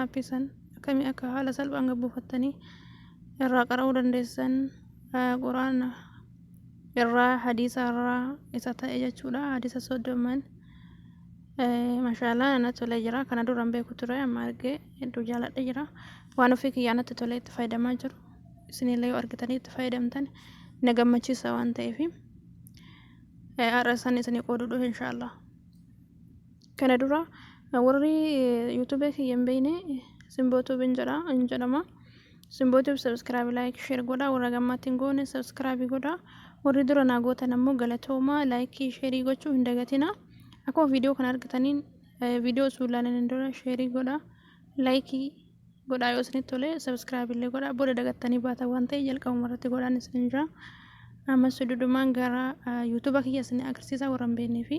Aappii san akkamii akka haala salphaan gad buufattanii irraa qara'uu dandeessan quraana irraa hadiisa irraa isa ta'e jechuudha hadiisa soddoman mashaalaa na tolee jira kana dura hin beeku ture amma argee hedduu jaaladhe jira waan ofii kiyyaa natti tolee itti fayyadamaa jiru isinillee yoo argitanii itti fayyadamtan na gammachiisa waan ta'eef har'a isaan isinii qooduu dhufe inshaallah Kana dura warri YouTube kiyya hin beekne Simboo Tube hin jedha hin jedhama. Simboo Tube subscribe like share godha warra gammaatti hin goone subscribe godha. Warri dura naa gootan ammoo galatooma like share gochuu hin dagatina. Akkuma viidiyoo kana argitaniin viidiyoo osoo ilaalin hin dura share godha like godha yoo isinitti tole subscribe illee godha booda dagattanii baata waan ta'e jalqabuma irratti godhaan isin jira. Ammas dudumaan gara YouTube kiyya isin agarsiisa warra hin beeknee fi.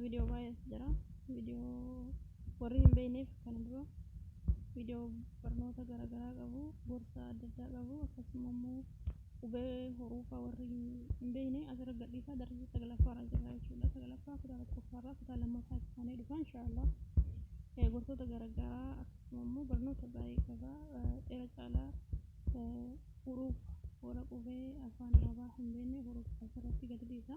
viidiyoo baay'eetu jira viidiyoo warri hin beekneef kana dura viidiyoo barnoota garaagaraa qabu gorsa adda addaa qabu akkasuma immoo qubee horuufaa warri hin beekne asirra gadhiisaa darbii saglaffaarra jira jechuudha saglaffaa kutaa tokkoffaarraa kutaa lammaffaa isaanii dhufa inshaallah gorsoota garaagaraa akkasuma immoo barnoota baay'ee qaba dheera caalaa huruuf warra qubee afaan arabaa hin beekne huruuf asirratti gadi dhiisa.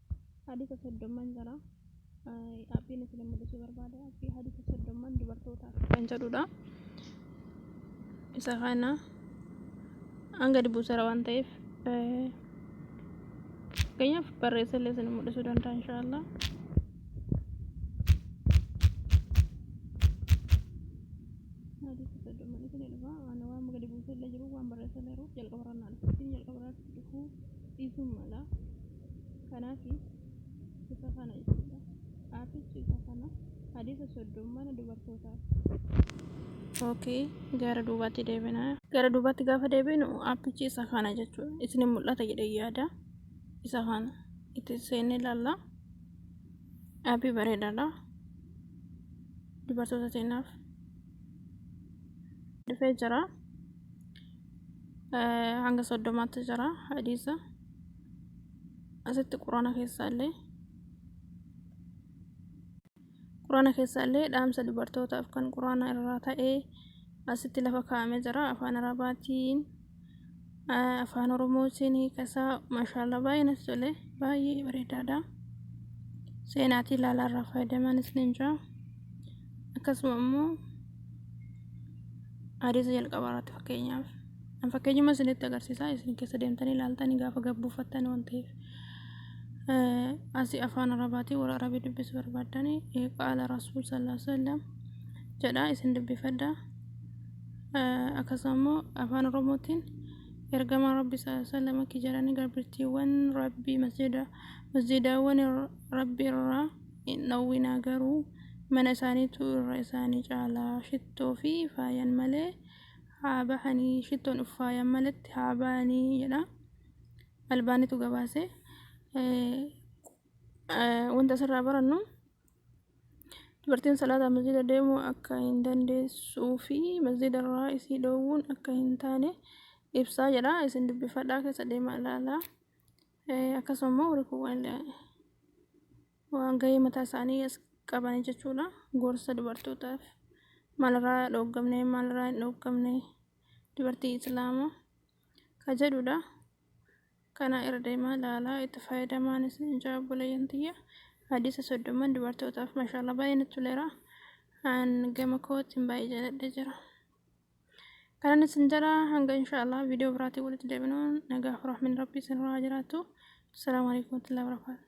Hadiisa soddomman jira. Appiin isin mul'isuu barbaade appii hadiisa soddomman dubartootaaf kan jedhudha. Isa kana hanga dubbisera waan ta'eef fakkeenyaaf barreessee illee isin mul'isuu danda'a inshaallah. Hadiisa soddomman isin dhufa waan waan gadi buusee illee jiru waan barreessee illee jiru jalqaba irraa naan jalqaba irraa dhufuu dhiisuu mala. kanaafis isa kana jechuudha. Aafichi isa kana hadiisa soddom mana dubartootaa. Okay, gara duubaatti deebina. Gara duubaatti gaafa deebinu aappichi isa kana jechuudha. Isin mul'ata jedhee yaada. Isa kana itti seenne ilaalla. Aappii bareedaadha. Dubartoota teenyaaf dhufee jira. Hanga soddomaatti jira hadiisa. asitti quraana keessaallee quraana keessaallee dhaamsa dubartootaaf kan quraana irraa ta'e asitti lafa kaa'amee jira afaan arabaatiin afaan oromootiin hiikasaa maashaallah baay'ee natti tole baay'ee bareedaadha seenaatii ilaalaa irraa fayyadamanis ni jira akkasuma immoo hadiisa jalqabaa irratti fakkeenyaaf An fakkeenyuma isinitti agarsiisaa isin keessa deemtanii ilaaltanii gaafa gabbuufattan waan ta'eef. Asi afaan arabaatiin warra arabii dubbisu barbaaddanii qaala rasuul sallallahu alaihi wasallam jedhaa isin dubbifadha. Akkasuma immoo afaan oromootiin ergamaa rabbi sallallahu alaihi wasallam akki jedhanii garbittiiwwan rabbii masjida masjidaawwan rabbi irraa hin dhowwinaa garuu mana isaaniitu irra isaanii caalaa shittoo fi faayan malee haa bahanii shittoon uffaayan malatti haa bahanii jedha albaanitu gabaase wanta asirraa barannu dubartiin salaata masjida deemuu akka hin dandeessuu fi masjida irraa isii dhoowwuun akka hin taane ibsaa jedha isin dubbifadhaa keessa deemaa ilaalaa akkasuma immoo warri kuwwan waan gahee mataa isaanii as qabanii jechuudha gorsa dubartootaaf maalirraa dhooggamne maalirraa hin dhooggamne dubartii islaama ka jedhudha kana irra deemaa laalaa itti fayyadamaan isin ijaa obboleeyyan tiyya hadiisa soddoman dubartootaaf mashaalla baay'ee natti toleera an gama kootiin baay'ee jaaladhe jira kanan isin jala hanga inshaallah viidiyoo biraatiin walitti deebinuun nagaa fi rahmin rabbii isin irraa haa jiraatu assalaamu alaikum warahmatullahi wabarakatuh